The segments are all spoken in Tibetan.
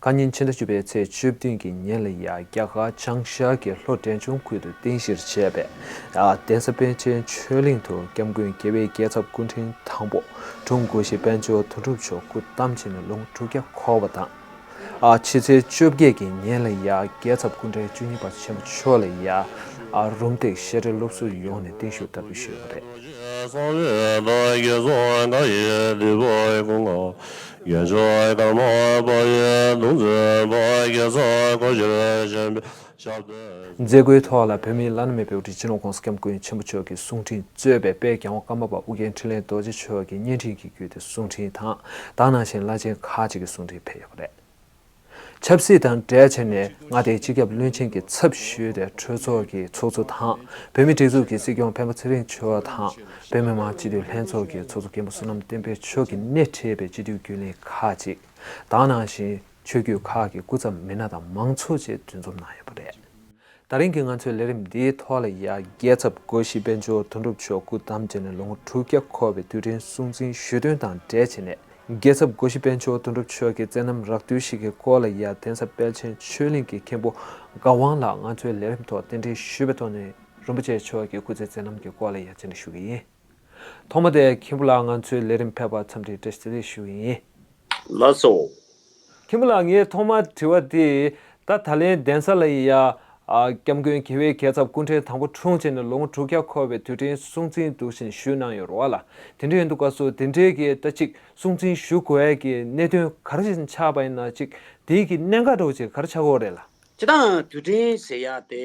བཀའ་ཉིན་ཕྱི་ཟླ་བཅུ་པའི་ཚེས་བཅུ་བདུན་གྱི་ཉིན་ལ་ཡང་རྒྱ་གར་བྱང་ཤར་གྱི་ལྷོ་བྲན་ཆུང་ཁུལ་དུ་རྟེན་གཞིར་བྱས་པའི་གདན་ས་པཎ་ཆེན་ཆོས་གླིང་དུ་སྐྱབས་མགོན་རྒྱལ་བའི་རྒྱལ་ཚབ་སྐུ་ཕྲེང་དང་པོ་དྲུང་དགོན་གཞི་དཔལ་འབྱོར་དོན་གྲུབ་མཆོག་སྐུ་བལྟམས་བྱས་ནས་ལོ་དྲུག་བརྒྱ་འཁོར་བ་དང། ཕྱི་ཚེས་བཅོ་བརྒྱད་ཀྱི་ཉིན་ལ་ཡང་རྒྱལ་ཚབ་སྐུ་ཕྲེང་བཅུ་གཉིས་པ་ཆེན་པོ་མཆོག་ལ་ཡང་རུམ་འདེགས་བཤད་གྲྭའི་སློབ་ཟུར་ཡོངས་ནས་བརྟན་བཞུགས་བཀྲ་ཤིས་ཞུས་པ་རེད། ཡོན་ཆོས་དར་མ་པོ་ཡི་གདུང་རྩེ་པོ་བརྒྱད་ཚོགས་སྐོར་གཞིར་བཞེངས་པའི་ཞབས་བསྟོད། མཛད་སྒོའི་ཐོག་ལ་བོད་མིའི་བླ་ན་མེད་པའི་འོག་སྒྲིལ་སྤྱི་ནོར ྋགོང་ས ྋསྐྱབས་མགོན་ཆེན་པོ་མཆོག་གི་གསུང་འཕྲིན་གཙོས་པའི་དཔལ་རྒྱལ་དབང་བཀའ་མ་པ་ཨུ་རྒྱན་འཕྲིན་ལས་རྡོ་རྗེ་མཆོག་གི་བརྙན་འཕྲིན་གྱི་བརྒྱུད་དེ་གསུང་འཕྲིན་དང་དག་སྣང་ཆེན་བླ་ཆེན་ཁག་ཅིག་གི་གསུང་འཕྲིན་ཕེབས་ཡོད་པ་རེད། ཆབ་སྲིད་དང་འབྲེལ་བྱས་ནས་མངའ་སྡེའི་སྤྱི་ཁྱབ་བློན་ཆེན་གྱི་ཚབ་ཞུས་ཏེ་གྲོས་ཚོགས་ཀྱི་ཚོགས་གཙོ་དང་བོད་མིའི་སྒྲིག་འཛུགས་ཀྱི་སྲིད་སྐྱོང་སྤེན་པ་ཚེ་རིང་མཆོག་དང་བོད་མི་མང་སྤྱི་འཐུས་ལྷན་ཚོགས་ཀྱི་ཚོགས་གཙོ་མཁན་པོ་བསོད་ནམས་བསྟན་འཕེལ་མཆོག་གིས་སྣེ་ཁྲིད་པའི་སྤྱི་འཐུས་རྒྱུན་ལས་ཁག་ཅིག་དང་ནང་བཞིན་ཆོས་བརྒྱུད་ཁག་གི་སྐུ་ཚབ་མི་སྣ་དང་མང་ཚོགས་བཅས་འདུ་འཛོམས་གནང་ཡོད་པ་རེད། ད་རིང་གི་ང་ཚོའི་ལས་རིམ་འདིའི་ཐོག་ལ་ཡ་རྒྱལ་ཚབ་སྒོ་བཞི་དཔལ་འབྱོར་དོན་གྲུབ་མཆོག་སྐུ་བལྟམས་བྱས་ནས་ལོ་ངོ་དྲུག་བརྒྱ་འཁོར་བའི་དུས་དྲན་སྲུང་བརྩི་ཞུས་དོན་དང་འབྲེལ་བྱས་ནས་རྒྱལ་ཚབ་སྒོ་བཞི་དཔལ་འབྱོར་དོན་གྲུབ་མཆོག་གི་བསྩལ་རྣམ་རགས་བསྡུས་ཤིག་གི་སྐོར་ལ་ཡ་གདན་ས་དཔལ་ཆེན་ཆོས་གླིང་གི་མཁན་པོ་དགའ་དབང་ལགས་ང་ཚོའི་ལས་རིམ་ཐོག་རྟེན་འབྲེལ་ཞུས་པའི་ཐོག་ནས་རིན་པོ་ཆེ་མཆོག་གི་སྐུ་ཚེའི་བསྩལ་རྣམ་གྱི་སྐོར་ལ་ཡ་མཆན་འདྲི་ཞུ་གི་ཡིན། ཐོག་མ་དེ་མཁན་པོ་ལགས་ང་ཚོའི་ལས་རིམ་ཕེབས་པར་འཚམས་འདྲི་བཀྲ་ཤིས་བདེ་ལེགས་ཞུ་གི་ཡིན། ལ་སོ། ཁྱིམ་ལ་ངས་ཐོག་མར་དྲི་བ་དེ། ད་ད་ལན་གདན་ས་ལ་ཡི་ཡ། སྐྱབས་མགོན་མཁས་པའི་གས་ཚབ་སྐུ་འཕྲེང་དང་པོ་འཁྲུངས་བྱས་ནས་ལོ་ངོ་དྲུག་བརྒྱ་འཁོར་བའི་དུས་དྲན་སྲུང་བརྩིའི་འདུག་ཤིང་ཞུས་གནང་ཡོད་རོགས་ལ་དེ་འདྲའི་འདུག་ག་སོ་དེ་འདྲའི་གས་ལྟ་ཅིག་སྲུང་བརྩིའི་ཞུ་དགོས་ཡ་གི་གནད་དོན་གར་ཞིག་ཆགས་པ་ཡིན་ན་ཅིག་དེའི་གི་གནད་འགག་གྲོགས་ཅིག་གར་ཆགས་གོ་རེད་ལ། ཅི་དང་དུས་དྲན་ཟེར་ཡ་དེ་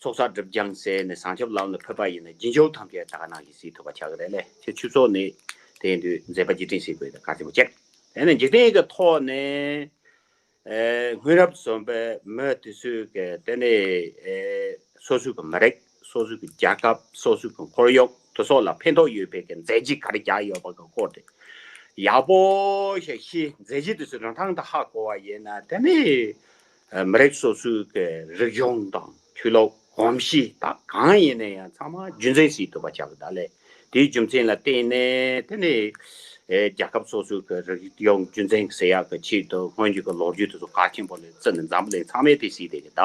ཚོགས་བསགས་སྒྲུབ་སྦྱང་བྱས་ནས་བཟང་ཆབ་ལམ་ལ་ཕེབས་པ་ཡིན་ན་རྒྱུན་སྦྱོར་ཐམས་ཅད་དག་སྣང་གི་གཟིགས་ཐུབ་པ་བྱ་དགོས་རེད་ལས་ཕྱིར་ཆུ་ཚོགས་ནི། དེ་ཡིན་དུས་མཛད་པ་རྗེས་དྲན་ཞིག་དགོས་དགའ་ཆེན་པོ་བྱས། དེ་ནས་འཇིག་རྟེན་གྱི་ཐོག་ནས། སྔོན་རབས་གསུམ་པའི་མོད་དུས་ཚོད་ཀྱི་དེ་ནི། སོ་སོའི་གི་མི་རིགས་སོ་སོའི་གི་རྒྱལ་ཁབ་སོ་སོའི་གི་འཁོར་ཡུག་དུ་སོགས་ལ་ཕན་ཐོག་ཡོད་པའི་གི་མཛད་རྗེས་ག་རེ་བརྒྱག་ཡོད་པ་གི་སྐོར་དེ། ཡག་པོ་ཞིག་ཤེས་མཛད་རྗེས་དུས་ཚོད་རིང་ཐང་དུ་ཧ་གོ་བ་ཡིན་ན་དེ་ནི། མི་རིགས་སོ་སོའི་གི་རིག་གཞུང་དང་ཆོས་ལུགས་གོམས་གཤིས་དག་གང་ཡིན་ན་ཡང་ཚང་མ་རྒྱུ་མཚན་སྲིད་ཐུབ་པ་བྱ་དགོས་ད་ལས་དེའི་རྒྱུ་མཚན་ལ་བརྟེན་ནས་དེ་ནས་རྒྱལ་ཁབ་སོ་སོའི་གི་རིག་གཞུང་རྒྱུ་མཚན་གི་ཟེར་ཡག་གི་ཆེད་དུ་སྔོན་རྒྱུད་གི་ལོ་རྒྱུས་དེ་ཚོ་ག་ཆེན་པོ་ལས་བརྩི་ནས་འཛམ་བུ་གླིང་ཚང་མས་དེ་གཟིགས་བསྡད་གི་ད་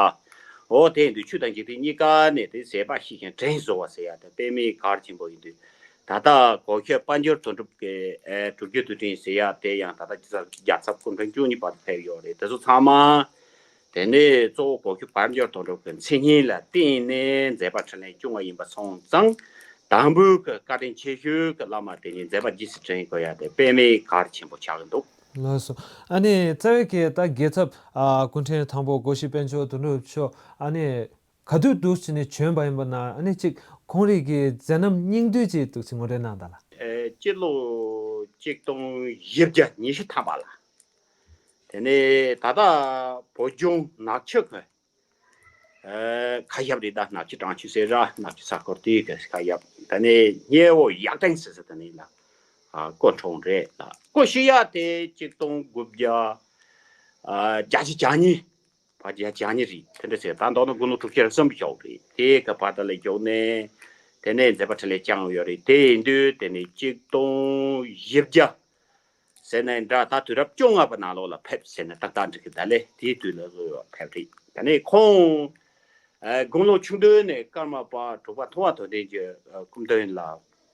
འོ་དེ་འདུག་ཆོས་དང་འཇིག་རྟེན་གཉིས་ཀ་ནས་དེ་ཟེར་པ་ཞིག་ཞིང་བྲན་བཟོ་བ་ཟེར་ཡག་དེ་དཔེ་མེད་གར་ཆེན་པོ་ཡིན་དུས་ད་ལྟ་གོ་ཁྱོད་དཔལ་འབྱོར་དོན་གྲུབ་ཀྱི་དྲུག་ཅུ་དུས་དྲན་ཟེར་ཡ་དེ་ཡང་ད་ལྟ་རྒྱ་ཚབ་སྐུ་མགྲོན་བཅུ་གཉིས་བར་དུ་ཕེབས་ཡོད་རེད་དེ་ཚོ་ཚང་མ་དེ་ནས་གཙོ་བོ་གོ་ཁྱོད་དཔལ་འབྱོར་དོན་གྲུབ་ཀྱི་མཚན་སྙན་ལ་བརྟེན་ནས་མཛད་པ་ཕྲིན་ལས་བཅུ་ལྔ་ཡིན་པ་སོང་ཙང་དང་པོའི་གི་བཀའ་དྲིན་ཆེ་ཤོས་ཀྱི་བླ་མ་དེ་ཉིད་མཛད་པ་རྗེས་སུ་དྲན་དགོས་ཡ་དེ་དཔེ་མེད་གར་ཆེན་པོ་ཆགས་ཀྱི་འདུག། ལོས་སོ། ཨ་ནི་རྩ་བའི་གི་ད་རྒྱལ་ཚབ་སྐུ་མགྲོན་དང་པོ་གོ་ཤི་དཔལ་འབྱོར་དོན་གྲུབ་མཆོག་ཨ་ནི་ག་དུས་འདུག་ཅེས་ནས་བྱོན་པ་ཡིན་པ་ན་ནི་གཅིག་ཁོང་རིགས་ཀྱི་མཛད་རྣམ་སྙིང་བསྡུས་ཀྱི་གདུགས་ཚིག་ངོ་སྤྲོད་གནང་དག་ལ། སྤྱི་ལོ་གཅིག་སྟོང་བཞི་བརྒྱ་ཉི་ཤུ་ཐམ་པ་ལ། དེ་ནས་ད་ལྟ་བོད་ལྗོངས་ནག་ཆུ་ཁུལ། ཁ་ཞབས་རི་དྭགས་ནག་ཆུ་བྲང་ཆུ་སེ་ར་ནག་ཆུ་ས་ཁོར་དེའི་ཁ་ཞབས་དེ་ནས་སྙེ་བོ་གཡག་སྟེང་ཟེར་ས་དེ་ནི་ལ་ཀོ་གྲོང་རེད་ལ་ཀོ་ཤི་ཡ་དེ་གཅིག་སྟོང་དགུ་བརྒྱ་གྱ་བཞི་གྱ་གཉིས་བ་རྒྱ་རྒྱ་ཉེ་རི་དེ་འདྲ་བྱས་ད་འདོག་ན་དགུང་ལོ་དྲུག་ཅུ་རེ་གསོན་པོ་ཞོག་རེད་དེ་ག་བ་ད་ལས་རྒྱོག་ནས་དེ་ནས་མཛད་པ་ཁྲི་ལས་བསྐྱངས་ཡོད་རེད་དེ་ཡིན་དུས་དེ་ནས་གཅིག་སྟོང་བཞི་བརྒྱ་ཟེར་ནས་འདྲ་ད་དུས་རབས་བཅོ་ལྔ་པ་ནང་ལོག་ལ་ཕེབས་ཟེར་ནས་ཏག་ཏག་འགྲིག་གི་ད་ལས་དེའི་དུས་ལ་ལོས་བ་ཕེབས་རེད་དེ་ནས་ཁོང་དགུང་ལོ་ཆུང་དུས་ནས་ཀརྨ་པ་དྲུག་པ་མཐོ་བ་དོ་ལྡན་གྱི་སྐུ་མདུན་ལ་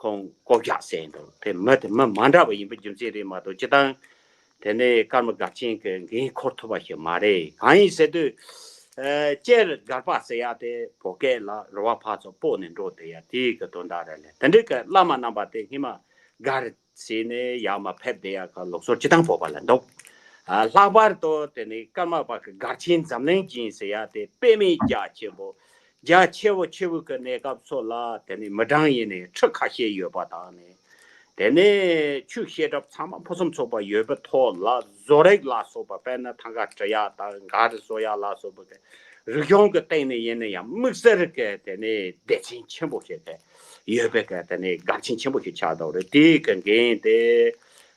ཁོང་ལྐོག་རྒྱག་བྱས་ཡིན་འདུག་དེ་མི་དེ་མི་མ་འདྲ་བ་ཡིན་པའི་རྒྱུ་མཚན་རེད་མ་གཏོགས་སྤྱི་དང། དེ་ནས་སྐར་མ་སྒར་ཆེན་གྱི་འགན་འཁུར་ཐུབ་པ་ཞིག་མ་རེད་གང་ཡིན་ཟེར་དུས། སྤྱིར་སྒར་པ་ཟེར་ཡག་དེ་བོད་སྐད་ལ་རུ་བ་ཕག་ཚོ་སྤོ་ནས་འགྲོ་བསྡད་ཡག་དེ་ཡི་གི་དོན་དག་རེད་ལས་དེ་འདྲའི་གི་བླ་མ་རྣམ་པ་དེ་སྔིན་མ་སྒར་ཚེ་ནི་ཡར་མ་ཕེབས་དེ་ཡང་ལུགས་སྲོལ་སྤྱི་དང་པོ་པ་ལ་འདུག། ལྷག་པར་དུ་དེ་ནི་ཀརྨ་པ་གི་སྒར་ཆེན་འཛམ་གླིང་སྦྱིན་ཟེར་ཡ་དེ་དཔེ་མེད་རྒྱ་ཆེན་པོ། རྒྱ་ཆེ་བོ་ཆེ་བུ་གི་གནས་སྐབས་སོགས་ལ་དེ་ནི་མི་གྲངས་ཡིན་ནས་ཁྲི་ཁ་ཤས་ཡོད་པ་དང་ནི། དེ་ནས་ཆུ་ཤེལ་གྲབས་ཚང་མ་ཕུན་སུམ་ཚོགས་པ་ཡོད་པའི་ཐོག་ལ་བཟོ་རིག་ལ་སོགས་པ་དཔེར་ན་ཐང་ག་བྲི་ཡ་དང་གངས་རི་བཟོ་ཡ་ལ་སོགས་པ་གི་རིག་གཞུང་གི་སྟེང་ནས་ཡིན་ན་ཡང་དམིགས་བསལ་གྱི་དེ་ནི་སྡེ་ཚན་ཆེན་པོ་ཞིག་གི་ཡོད་པའི་སྐད་དེ་ནི་སྒར་ཆེན་ཆེན་པོ་ཞིག་ཆགས་འདུག་རེད་དེའི་སྐད་འགན་དེ་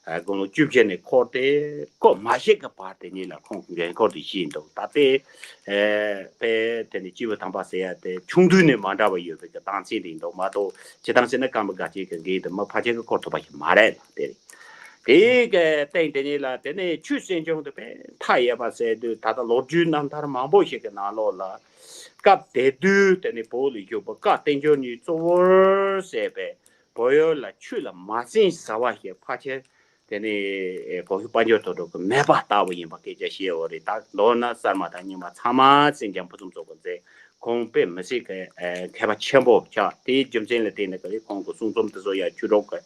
དགུང་ལོ་བཅུ་བཞི་ནས་འཁོར་ཏེ་སྐོར་མ་ཞིག་གི་བར་དེ་ཉིད་ལ་ཁོང་གི་འགན་འཁོར་དུ་བཞེས་འདུག་ད་ལྟའི་དཔེ་དེ་ནི་སྤྱི་བོ་དམ་པ་ཟེར་ཡ་དེ་ཆུང་དུས་ནས་མ་འདྲ་བ་ཡོད་པའི་སྐད་གདངས་ཚད་འདི་འདུག་མ་གཏོགས་ཇི་ལྟར་བྱས་ན་སྐར་མ་སྒར་ཆེན་གྱི་འགན་དེ་མི་ཕ་ཅན་གྱིས་འཁོར་ཐུབ་པ་ཞིག་མ་རེད་ལ་དེ་རེད་དེའི་སྐད་སྟེང་དེ་ཉིད་ལ་དེ་ནས་ཆུ་སྲིན་ཆུང་དུ་བས་མཐའ་ཡས་པ་ཟེར་དུས་ད་ལྟ་ལོ་རྒྱུས་རྣམ་ཐར་མང་པོ་ཞིག་གི་ནང་ལོགས་ལ་སྐབས་དེ་དུས་དེ་ནི་བོད་ལ་གྱུར་པ་བཀའ་བསྟན་འབྱོར་གཉིས་གཙོ་བོར་བྱས་པའི་བོད་ཡུལ་ལ་ཆུ་ལ་མ་བྱིན་ཟ་བ་ཞིག་ཕ་ཁྱེར་དེ་ནི་བོད་ཤུག་དཔའ་འབྱོར་ཐོག་ཐུག་གི་མེ་སྦར་ལྟ་བུ་ཡིན་པ་སྐད་ཆ་བཤད་འོ་རེད་ད་མདོར་ན་གསར་མ་དང་རྙིང་མ་ཚང་མ་ཟིང་ཀྱང་ཕུ་ཚུམ་ཚོགས་པ་མཛད་ཁོང་དཔེ་མི་སྲིད་གི་མཁས་པ་ཆེན་པོ་ཆགས་དེའི་རྒྱུ་མཚན་ལ་བརྟེན་ནས་ཁོང་གི་གསུང་རྩོམ་འདི་ཚོ་ཡང་ཆུ་གྲོགས་ཀྱི།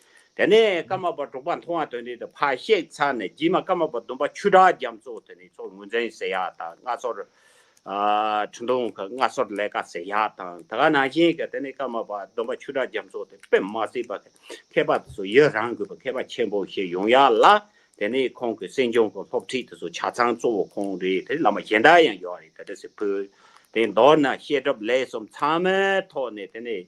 དེ་ནས་ཀརྨ་པ་གྲོགས་པ་མཐོང་བ་དོན་འདི་དང་ཕ་གཤེགས་ཚར་ནས་རྗེས་མ་ཀརྨ་པ་བདུན་པ་ཆུ་བྲག་རྒྱ་མཚོ་དེ་ནས་མཚོ་ངོས་འཛིན་ཟེར་ཡག་དང་སྔ་སོར་ཁྲི་འདོང་གི་སྔ་སོར་ལས་ཀ་ཟེར་ཡག་དང་ད་ག་ནང་བཞིན་གྱི་དེ་ནས་ཀརྨ་པ་བདུན་པ་ཆུ་བྲག་རྒྱ་མཚོ་དེ་པདྨ་སྲིད་པ་གི་མཁས་པ་དེ་ཚོ་ཡི་རངས་དགོས་པའི་མཁས་པ་ཆེན་པོ་ཞིག་ཡོང་ཡག་ལ་དེ་ནས་ཁོང་གི་སྲིད་འབྱུང་གི་སློབ་ཁྲིད་དེ་ཚོ་ཆ་ཚང་གཙོ་བོ་ཁོང་རེད་དེ་བླ་མ་གཞན་དག་ཡང་ཡོད་རེད་ད་དྲི་ཟིག་ཕུལ་དེ་མདོར་ན་བཤད་གྲབས་ལས་གསུམ་ཚང་མའི་ཐོག་ནས་དེ་ནས་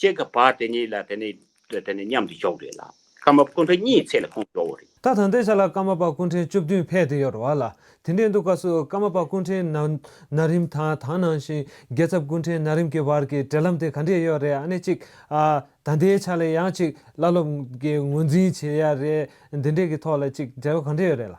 ཅེས་ཀྱི་བར་དེ་གཉིས་ལ་དེ་ནི་དེ་ནི་མཉམ་དུ་འཇོག་དགོས་ལ། ཀརྨ་པ་སྐུ་འཕྲེང་གཉིས་ཚེས་ལ་ཁོང་འཇོག་འོ་རེད། ད་ཐང་དེ་ཆ་ལ་ཀརྨ་པ་སྐུ་འཕྲེང་བཅུ་བདུན་ཕེབས་དེ་ཡོད་རེད་བ་ལ། དེ་འདྲའི་འདུག་ཀ་སུ་ཀརྨ་པ་སྐུ་འཕྲེང་ན་ན་རིམ་དང་དང་ནང་བཞིན་རྒྱལ་ཚབ་སྐུ་འཕྲེང་ན་རིམ་གྱི་བར་གྱི་འབྲེལ་ལམ་དེ་ག་འདྲས་ཡོད་རེད་ཨ་ནི་གཅིག་ཨ། ད་འདའི་ཆ་ལ་ཡང་གཅིག་བླ་སློབ་ཀྱི་ངོས་འཛིན་བྱེད་ཡ་རེད་འདི་འདྲས་ཀྱི་ཐོག་ལ་གཅིག་འབྲེལ་བ་ག་འདྲས་ཡོད་རེད་ལ།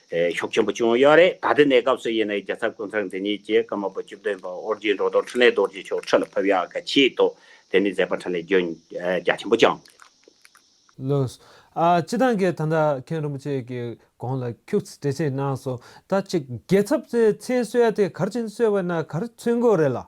ཤོག་ཆེན་པོ་ཅུང་གཡོ་རེ་ད་ལྟ་ནས་སྐབས་སུ་ཡིན་ན་རྒྱལ་ཚབ་ཀུན་བཟང་འདི་ཉིད་ཀྱིས་བཀའ་མ་པོ་བཅུ་བདུན་པ་ཨོ་རྒྱན་འགྲོ་དོར་ཕྲིན་ལས་རྡོ་རྗེ་ཆོག་ཁྲི་ལ་ཕབ་ཡག་ག་ཆེའི་ཐོག་དེ་ནས་མཛད་པ་ཕྲིན་ལས་རྒྱུན་རྒྱ་ཆེན་པོ་བསྐྱངས། ལོས། སྤྱི་དང་གི་ད་ལྟ་མཁན་རིན་པོ་ཆེ་གི་དགོངས་ལ་ཁྱུག་ཚིག་འགྲེལ་བྱེད་གནང་སོང་ད་ཅིག་རྒྱལ་ཚབ་ཚེ་གསོལ་དེ་གར་ཕྱིན་གསོལ་བས་ན་གར་ཚུན་དགོས་རེད་ལགས།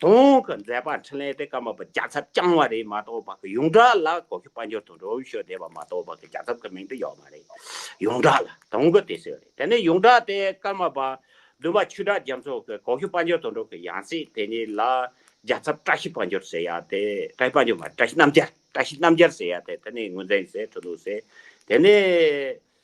དུང་གི་མཛད་པ་འཕྲིན་ལས་དེ་ཀ་མ་པ་རྒྱ་ཚབ་བསྐྱངས་བ་རེད་མ་གཏོགས་པ་གི་ཡུངས་དྲག་ལ་གོ་ཤུ་དཔའ་འབྱོར་དང་འགྲོ་བོ་ཤོ་སྡེ་བ་མ་གཏོགས་པ་གི་རྒྱ་ཚབ་གི་མིང་དུ་ཡོད་མ་རེད། ཡུངས་དྲག་ལ་དུང་གི་དེ་སྲོལ་རེད་དེ་ནས་ཡུངས་དྲག་དེ་ཀ་མ་པ་བདུན་པ་ཆུ་བྲག་རྒྱ་མཚོ་གི་གོ་ཤུ་དཔའ་འབྱོར་དང་འགྲོ་གི་ཡང་སྲིད་དེ་ཉིད་ལ་རྒྱ་ཚབ་བཀྲ་ཤིས་དཔའ་འབྱོར་ཟེར་ཡ་དེ་བཀྲ་ཤིས་དཔའ་འབྱོར་མ་རེད་བཀྲ་ཤིས་རྣམ་རྒྱལ་བཀྲ་ཤིས་རྣམ་རྒྱལ་ཟེར་ཡ་དེ་དེ་ནས་ངོས་འཛིན་ཟེར་ཐུ་ལུགས་ཟེར་དེ་ནས།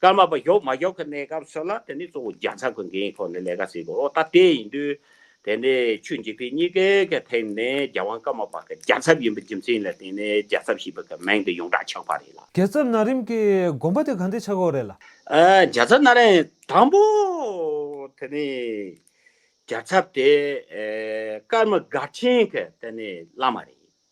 སྐར་མ་པ་ཞོགས་མ་ཞོགས་ཀྱི་གནས་སྐབས་སུ་ལ་དེ་ནི་གཙོ་བོ་རྒྱ་ཚ་གི་འགན་ཡིན་ཐོག་ནས་ལས་ཀ་བྱེད་དགོས་རོགས་ད་དེ་ཡིན་དུས་དེ་ནས་ཆུ་འཇིག་དུས་གཉིས་ཀའི་གི་ཐེངས་ནས་རྒྱ་དབང་སྐར་མ་པ་གི་རྒྱ་ཚབ་ཡིན་པའི་རྒྱུ་མཚན་ལ་བརྟེན་ནས་རྒྱ་ཚབ་ཞེས་པའི་གི་མིང་དེ་ཡོངས་གྲགས་ཆགས་པ་རེད་ལ། རྒྱ་ཚབ་ན་རིམ་གི་དགོངས་པ་དེ་གང་དེ་ཆགས་ཁོག་རེད་ལ། རྒྱ་ཚབ་ན་རིམ་དང་པོ་དེ་ནི་རྒྱ་ཚབ་དེ་སྐར་མ་སྒར་ཆེན་གི་དེ་ནི་བླ་མ་རེད།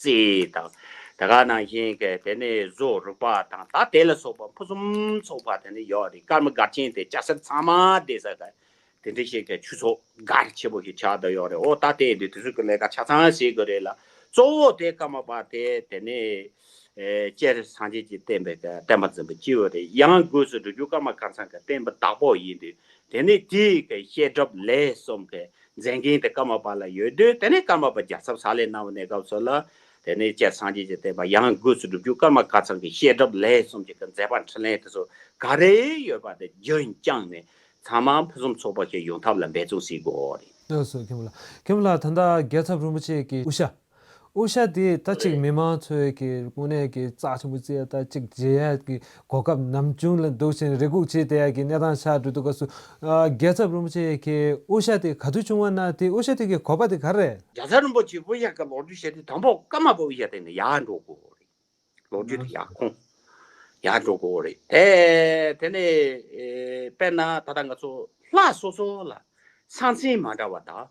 ཙི་དང། དེ་ག་ནང་བཞིན་ཀྱི་དེ་ནི་བཟོ་རུག་པ་དང་ད་དེ་ལ་སོགས་པ་ཕུན་སུམ་ཚོགས་པ་དེ་ནི་ཡོད་དེ་སྐར་མ་སྒར་ཆེན་དེ་སྐྱ་སེར་ཚང་མ་བསྡད་ས་དེ་དེ་འདྲ་ཞིག་གི་ཆུ་ཚོགས་སྒར་ཆེ་པོ་ཞིག་ཆགས་བསྡད་ཡོད་རེད་འོ་ད་དེ་འདི་དེ་ཚོ་གི་ལས་ཀ་ཆ་ཚང་བྱེད་དགོས་རེད་ལ་གཙོ་བོ་དེ་སྐར་མ་པ་དེ་དེ་ནི་སྤྱིར་སངས་རྒྱས་ཀྱི་བསྟན་པའི་གི་བསྟན་པ་འཛིན་པ་སྤྱི་བོ་རེད་ཡང་སྒོས་སུ་འགྲོ་རྒྱུག་སྐར་མ་སྐར་ཚང་གི་བསྟན་པ་བདག་པོ་ཡིན་དུས་དེ་ནི་དེའི་གི་བཤད་སྒྲུབ་ལས་གསུམ་གི་མཛད་མཁན་དེ་ཀརྨ་པ་ལ་ཡོད་དུས་དེ་ནས་ཀརྨ་པ་རྒྱ་ཚབ་ས་ལས་གནང་བའི་གནས་སྐབས་སུ་ལ་དེ་ནས་སྤྱན་སངས་རྒྱས་ཀྱི་བསྟན་པ་ཡང་སྒོས་སུ་སྒྲུབ་རྒྱུ་ཀརྨ་བཀའ་ཚང་གི་བཤད་སྒྲུབ་ལས་གསུམ་གྱི་གི་མཛད་པ་འཕྲིན་ལས་དེ་ཚོ་ག་རེ་ཡོད་པ་དེ་རྒྱུན་བསྐྱངས་ནས་ཚང་མ་ཕུན་སུམ་ཚོགས་པ་ཞིག་ཡོང་ཐབས་ལ་འབད་བརྩོན་བྱེད་དགོས་རེད། སོ་སོའི་ཁྱིམ་ལ་ཁྱིམ་ལ་ད་ལྟ་རྒྱལ་ཚབ་རིན་པོ་ཆེ་གི་དབུ་ཞྭ། དབུ་ཞྭ་དེ་ད་ཅིག་མི་མང་ཚོས་ཀྱི་དངོས་གནས་ཀྱི་རྩ་ཆེན་པོ་བཅས་ད་ཅིག་རྗེས་ཡལ་གྱི་གོ་སྐབས་ནམ་བྱུང་ལ་འདུག་ཅིང་རེ་སྒུག་བྱེད་བསྡད་ཀྱི་གནས་སྟངས་ཆགས་འགྲོ་འདུག་སྐབས་སུ། རྒྱལ་ཚབ་རིན་པོ་ཆེ་ཁྱེད་དབུ་ཞྭ་དེ་ག་དུས་བྱུང་བ་ན་དེ་དབུ་ཞྭ་དེ་གི་གོ་བ་དེ་ག་རེད། རྒྱལ་ཚབ་རིན་པོ་ཆེ་དབུ་ཞྭ་གི་ལོག་འགྲུལ་བྱས་ཏེ་དང་པོ་སྐར་མ་པ་དབུ་ཞྭ་དེ་ནི་ཡར་འགྲོ་དགོས་རེད། ལོག་འགྲུལ་དེ་ཡར་ཁོང་ཡར་འགྲོ་དགོས་རེད་དེ། དེ་ནས་དཔེར་ན་ད་ལྟ་ང་ཚོ་ལྷ་སོ་སོ་ལ་ས་མཚན་མ་འདྲ་བ་དག་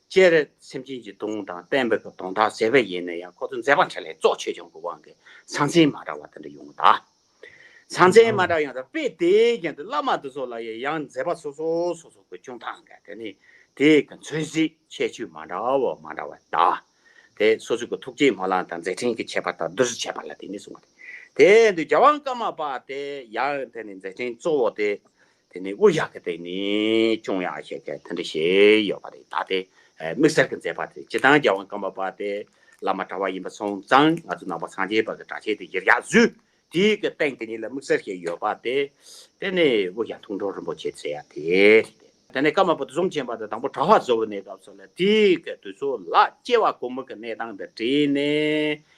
སྤྱན་རས་སེམས་ཅན་གྱི་གདུང་དང་དཔལ་འབེབས་པའི་གདོང་དག་ཟད་པས་ཡེ་ནས་ཡང་ཁོ་ཚོ་མཛད་པ་འཕྲལ་ལས་རྫོགས་ཆོས་སྐྱོང་གི་དབང་གིས་ཟང་ཟིང་མ་འདྲ་བ་དེ་འདྲ་ཡོང་གདའ། ཟང་ཟིང་མ་འདྲ་ཡོང་གདའ་པས་དེའི་རྐྱེན་དུ་བླ་མ་འདི་ཚོ་ལ་ཡང་ཡང་མཛད་པ་སོ་སོ་སོ་སོ་གི་སྐྱོང་སྟངས་འགའ་དེ་ནི་དེ་གི་མཚོན་གཟིགས་ཁྱད་ཆོས་མ་འདྲ་བ་མ་འདྲ་བ་གདའ། དེ་སོ་སོ་གི་ཐུགས་རྗེའི་མོ་ལངས་དང་མཛད་ཕྲིན་གྱི་ཁྱད་པར་དག་བསྡུར་བྱས་པ་ལ་དེ་ནས་བཟུང་སྟེ་དེ་འདུལ་རྒྱལ་དབང་བཀའ་མ་པ་དེ་ཡང་དེ་ནི་མཛད་ཕྲིན་གཙོ་བོ་སྟེ། དེ་ནས་དབུ་ཞྭ་གི་སྟེང་ནས་ཅུང་ཡང་ཞེས་དེ་འདྲ་བྱས་ཡོད་པ་རེད་ད་དེ་དམིགས་བསལ་གྱི་མཛད་པ་དེ་སྤྱི་དང་རྒྱལ་དབང་བཀའ་འབབ་པ་དེ་བླ་མ་གྲྭ་བ་ཡིན་པ་སོང་ཙང་ང་ཚོ་ནང་པ་ཚང་རྒྱས་པ་གི་གྲྭ་ཆས་དེ་གཞིར་བཞག་བཟོས་དེ་གི་སྟེང་དེ་ཉིད་ལ་དམིགས་བསལ་ཞེས་ཡོད་པ་དེ་དེ་ནས་དབུ་ཞྭ་ཐུགས་མགྲོན་རིན་པོ་ཆེ་ཟེར་ཡ་དེ་རེད་དེ། དེ་ནས་བཀའ་འབབ་པ་དེ་གསུམ་བྱིན་པ་དེ་དང་པོ་གྲྭ་བ་བཟོ་བའི་གནས་སྐབས་སུ་ལ་དེ་གི་དུས་སུ་ལ་སྐྱེ་བ་ཀུན་མོ་གི་གནས་སྟངས་དེ་བྲིས་ནས་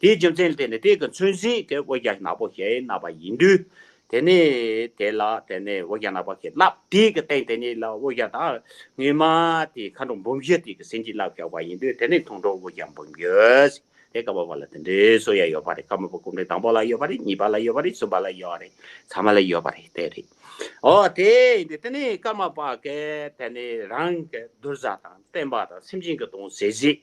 དེའི་རྒྱུ་མཚན་དེ་ནི་དེ་གི་མཚོན་གཟིགས་དེ་དབུ་རྒྱ་ནག་པོ་ཞེས་གནང་བ་ཡིན་དུས། དེ་ནི་དེ་ལ་དེ་ནི་དབུ་རྒྱ་ནག་པོ་ཞེས་བསླབ་དེ་གི་སྟེང་དེ་ཉིད་ལ་དབུ་རྒྱ་དང་དངུལ་མ་དེའི་མཁའ་འགྲོ་འབུམ་བཞི་དེ་གི་ཟིན་གྱིས་བསླབ་བཞག་པ་ཡིན་དུས་དེ་ནི་མཐོང་གྲོལ་དབུ་རྒྱ་འབུམ་བཞི། དེ་ཀ་བ་བ་ལ་དེ་འདྲའི་སོ་ཡ་ཡོད་པ་རེད་ཀ་མ་བ་སྐུ་འདྲེན་དང་པོ་ལ་ཡོད་པ་རེད་གཉིས་པ་ལ་ཡོད་པ་རེད་གསུམ་པ་ལ་ཡོད་རེད་ཚང་མ་ལ་ཡོད་པ་རེད་དེ་རེད། འོ་དེ་ཡིན་དུས་དེ་ནི་ཀ་མ་པ་ཀས་དེ་ནི་རང་གི་བདུད་བཟའ་དང་བསྟན་པ་དང་སེམས་ཅན་གྱི་དོན་ཟེར་གཟིགས་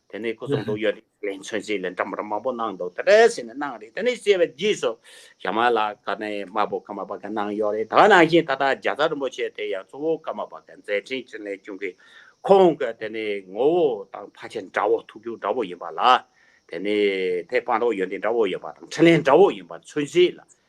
དེ་ནས་ཁོ་གསུངས་འདུག་ཡོད་རེད་ལས་མཚོན་རྩིས་ལས་འདྲ་མོ་འདྲ་མང་པོ་གནང་འདུག་དེ་འདྲ་ཟེར་ནས་གནང་རེད་དེ་ནས་བཤད་པའི་རྗེས་སུ་ཞྭ་དམར་ལ་ཀ་ནའི་དམར་པོ་ཀརྨ་པ་ཀན་གནང་ཡོད་རེད་ད་གནང་བཞིན་ད་ལྟ་རྒྱ་བཟའ་རིན་པོ་ཆེ་དེ་ཡང་གཙོ་བོ་ཀརྨ་པ་ཀན་མཛད་འཕྲིན་ཅན་ལས་བྱུང་གི་ཁོང་གི་དེ་ནས་ངོ་བོ་དང་ཕ་ཆེན་འདྲ་བོ་ཐུགས་རྒྱུད་འདྲ་བོ་ཡིན་པ་ལ་དེ་ནས་དེ་སྤངས་རོགས་ཡོད་འདི་འདྲ་བོ་ཡིན་པ་དང་འཕྲིན་ལན་འདྲ་བོ་ཡིན་པ་མཚོན་རྩིས་ལ་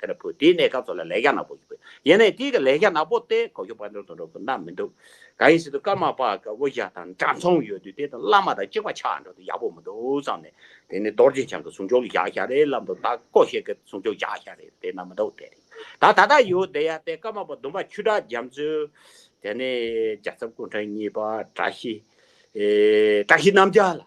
དེ་ལ་བུ་དེའི་གནས་སྐབས་སོགས་ལ་ལས་རྒྱ་ནག་པོ་ཞིག་ཡོད་ན་ཡང་དེའི་གི་ལས་རྒྱ་ནག་པོ་སྟེ་གོ་ཁྱོ་པ་འདྲོ་དང་འདྲོ་གི་ན་མི་འདུག་ག་ཡིན་ཟེར་དུས་ཀརྨ་པ་གི་དབུ་ཞྭ་དང་འདྲ་མཚུངས་ཡོད་དུས་དེ་དང་བླ་མ་དང་གཅིག་པ་ཆགས་འགྲོ་དུས་ཡག་པོ་མི་འདུག་བསམ་ནས་དེ་ནི་རྡོ་རྗེ་འཆང་གི་གཟུངས་ཆོག་བཞག་ཞྭ་རེད་ལབ་འདུག་ད་ཀོ་ཤེར་གི་གཟུངས་ཆོག་བཞག་ཞྭ་རེད་དེ་ན་མི་འདུག་དེ་རེད་ད་ད་ལྟ་ཡོད་དེ་ཡ་སྟེ་ཀརྨ་པ་བདུན་པ་ཆུ་བྲག་རྒྱ་མཚོས་དེ་ནི་རྒྱ་ཚབ་སྐུ་ཕྲེང་གཉིས་པ་བཀྲ་ཤིས་བཀྲ་ཤིས་རྣམ་རྒྱལ་ལ།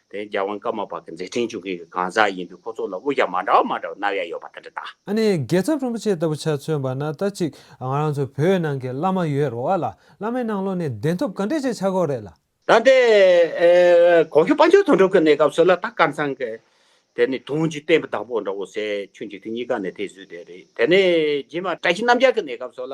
དེ་རྒྱལ་དབང་བཀའ་མ་པ་གི་མཛད་འཕྲིན་བཅུ་གཉིས་ཀྱི་གང་ཟག་ཡིན་པས་ཁོ་ཚོ་ལ་དབུ་རྒྱ་མ་འདྲ་བ་མ་འདྲ་བ་རྣམ་ཡང་ཡོད་པ་དེ་འདྲ་དང། ཨ་ནི་རྒྱལ་ཚབ་རིན་པོ་ཆེ་ལྟ་བུ་ཆ་མཚོན་པ་ན་ལྟ་ཅིག་ང་རང་ཚོ་བོད་ནང་གི་བླ་མ་ཡོད་རོགས་ཨ་ལ་བླ་མའི་ནང་ལོག་ནས་བདེན་ཐོབ་ག་འདྲས་བྱས་ཆགས་གོ་རེད་ལ། ད་ལྟ་གོང་གི་དཔའ་མཆོག་དོན་གྲུབ་ཀྱི་གནས་སྐབས་སུ་ལ་དྭགས་དཀར་ཚང་གི་དེ་ནི་དུང་གི་བསྟན་པའི་བདག་པོ་འདྲ་བོ་ཟེར་ཁྱོད་ཀྱིས་དེ་གཉིས་ཀ་ནི་དེ་བཟོས་བསྡད་རེད་དེ་ནི་རྗེས་མ་བཀྲ་ཤིས་རྣམ་རྒྱལ་གྱི་གནས་སྐབས་སུ་ལ་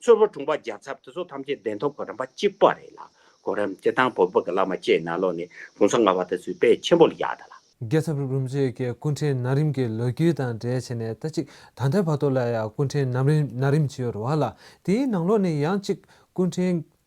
ཚོལ་བ་གྲུང་པ་རྒྱ་མཚར་དེ་ཚོ་ཐམས་ཅད་བདེན་ཐོབ་གོ་རམས་པ་གཅིག་པ་རེད་ལ་གོ་རམས་དེ་དང་བོ་བོད་ཀྱི་བླ་མ་བཅས་ན་ལོ་ནས་གུང་ས་ལྔ་བ་དེ་ཚོའི་དཔལ་ཆེན་པོ་ལ་ཡག་ད་ལ། རྒྱལ་ཚབ་རུ་རུམ་བཅས་ཀྱི་སྐུ་འཕྲེང་ན་རིམ་གྱི་ལོ་རྒྱུས་དང་འབྲེལ་བྱས་ནས་ལྟ་གཅིག་ད་ལྟའི་བར་དུ་ལ་ཡང་སྐུ་འཕྲེང་ན་རིམ་བྱེད་ཡོད་རེད་བ་ལ་དེའི་ནང་ལོགས་ནས་ཡང་གཅིག་སྐུ་འཕྲེང་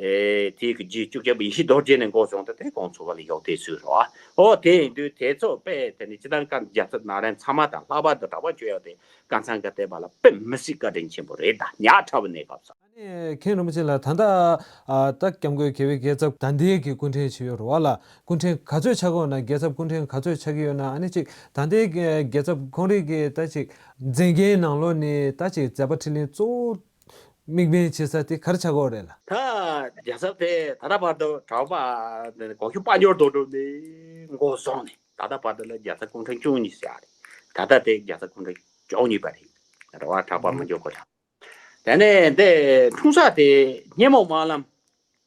དེའི་གི་རྗེས་བཅུ་བརྒྱ་པའི་ཡེ་ཤེས་རྡོ་རྗེ་ནས་འགོ་བྱུང་སྟེ་དེ་གོང་འཚོ་བ་ལ་ཡོག་དེའི་ཚུལ་རོ། ཨོ་དེ་ཡིན་དུས་དེ་ཚོ་དཔེ་དེ་ནི་ཅི་དང་ཀ་འཇའ་ཚོན་ནཱ་རན་ཚང་མ་དང་ལྷག་པར་དུ་གྲགས་པ་ཆོས་ཡོག་དེ་ཀ་ཚང་གི་ལྟས་པ་ལ་དཔེ་མི་སྲིད་བཀའ་དྲིན་ཆེན་པོ་རེད་ད་ཉག་ཕྲ་བ་ནས་བབས་སོ། ཨ་ནེ་མཁན་རིན་པོ་ཆེ་ལ་ད་ལྟ་ད་སྐྱབས་མགོན་དགེ་བའི་རྒྱལ་ཚབ་དང་འདས་ཀྱི་སྐུ་འཕྲེང་ཇི་ཡོད་རོ་བ་ལ་སྐུ་འཕྲེང་ག་ཚོད་ཆགས་དགོས་ན་རྒྱལ་ཚབ་སྐུ་འཕྲེང་ག་ཚོད་ཆགས་ཀྱི་ཡོད་ན་ཨ་ནེ་ཅིག་ད་འདས་རྒྱལ་ཚབ་ཁོང་རིགས་ཀྱི་ད་ཅིག། མཛད་འགན་ནང་ལོ་ནི་ད་ཅིག་མཛད་པ་ཁྲི་ལིང་གཙོ་བོ་དམིགས་འབེན་བྱེད་ས་དེ་གར་ཆགས་གོ་རེད་ལ། ད་རྒྱལ་ཚབ་དེ་ད་ལྟ་བར་དུ་གྲྭ་བ་དང་གོང་ཞུ་དཔའ་འབྱོར་དོ་དྲུག་ནས་མགོ་བཟུང་ནས་ད་ལྟ་བར་དུ་ལ་རྒྱལ་ཚབ་སྐུ་ཕྲེང་བཅུ་གཉིས་བཞག་རེད། ད་ལྟ་དེ་རྒྱལ་ཚབ་སྐུ་ཕྲེང་བཅུ་གཉིས་པ་རེད། རེ་བ་གྲྭ་བ་མི་འཇོག་གོ་དང། དེ་ནས་འདི་འཁྲུངས་ས་དེ་སྙེ་མོ་དམར་ལམ།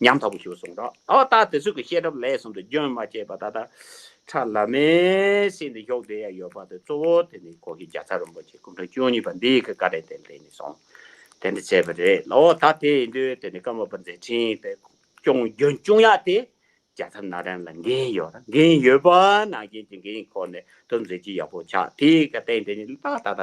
ཉམ་ཐག་པོ་ཞུ་གསུངས་རོགས་ད་བ་ཏག་དེ་ཚོད་ཀྱི་བཤད་གྲབས་ལས་གསུམ་དུ་རྒྱུན་མ་ཆད་པ་ད་ལྟ་ཁྲ་ལ་མའི་སྲིད་འདི་ཞོག་བསྡད་ཡ་ཡོད་པ་དེ་གཙོ་བོ་དེ་ནི་ཁོ་གི་རྒྱ་ཚ་རིན་པོ་ཆེ་སྐུ་འཕྲེང་བཅུ་གཉིས་པ་འདི་གི་བཀའ་དྲིན་དེ་ལས་ནི་སོང་དེ་འདྲ་བྱས་པ་རེད་ལོ་ད་དེ་ཡིན་དུས་དེ་ནི་བཀའ་མ་པ་མཛད་འཕྲིན་དེ་སྐྱོང་རྒྱུན་བཅུང་ཡག་དེ་རྒྱ་ཚ་ན་རན་ལ་འགན་ཡོད་ར་འགན་ཡོད་པ་ན་རྒན་གྱི་འགན་ཁོ་ནས་དུ་མཛད་ཀྱི་ཡག་པོ་ཆགས་དེ་ག་དེ་འདྲ་ནི་ལ་ད་ད་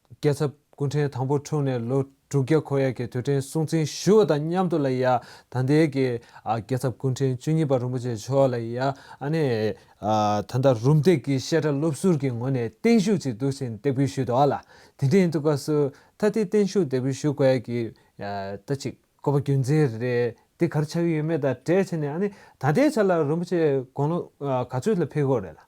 རྒྱལ་ཚབ་སྐུ་ཕྲེང་དང་པོ་འཁྲུངས་ནས་ལོ་དྲུག་བརྒྱ་འཁོར་ཡས་ཀྱི་དུས་དྲན་སྲུང་བརྩི་ཞུ་བ་དང་མཉམ་དུ་ལ་ཡ་ད་ལྟའི་གི་རྒྱལ་ཚབ་སྐུ་ཕྲེང་བཅུ་གཉིས་པ་རིན་པོ་ཆེ་མཆོག་ལ་ཡ་ད་ལྟ་རུམ་འདེགས་ཀྱི་བཤད་གྲྭ་སློབ་ཟུར་གྱི་ངོས་ནས་བརྟན་བཞུགས་ཀྱི་དུས་ཆེན་སྟེགས་བུ་ཞུས་འདུག་ལ་དེ་འབྲེལ་དུ་སྐབས་སུ་ད་ལྟའི་བརྟན་བཞུགས་སྟེགས་བུ་ཞུ་དགོས་ཡ་གི་ད་ཅིག་བསྐོ་བ་རྒྱུ་མཚན་རེ་དེ་གར་ཆགས་ཀྱི་ཡོད་མེད་དང་བྲལ་ཕྱིན་ནས་ད་ལྟའི་ཆ་ལ་རིན་པོ་ཆེ་དགུང་ལོ་ག་ཚོད་ལ་ཕེབས་དགོས་རེད་ལ།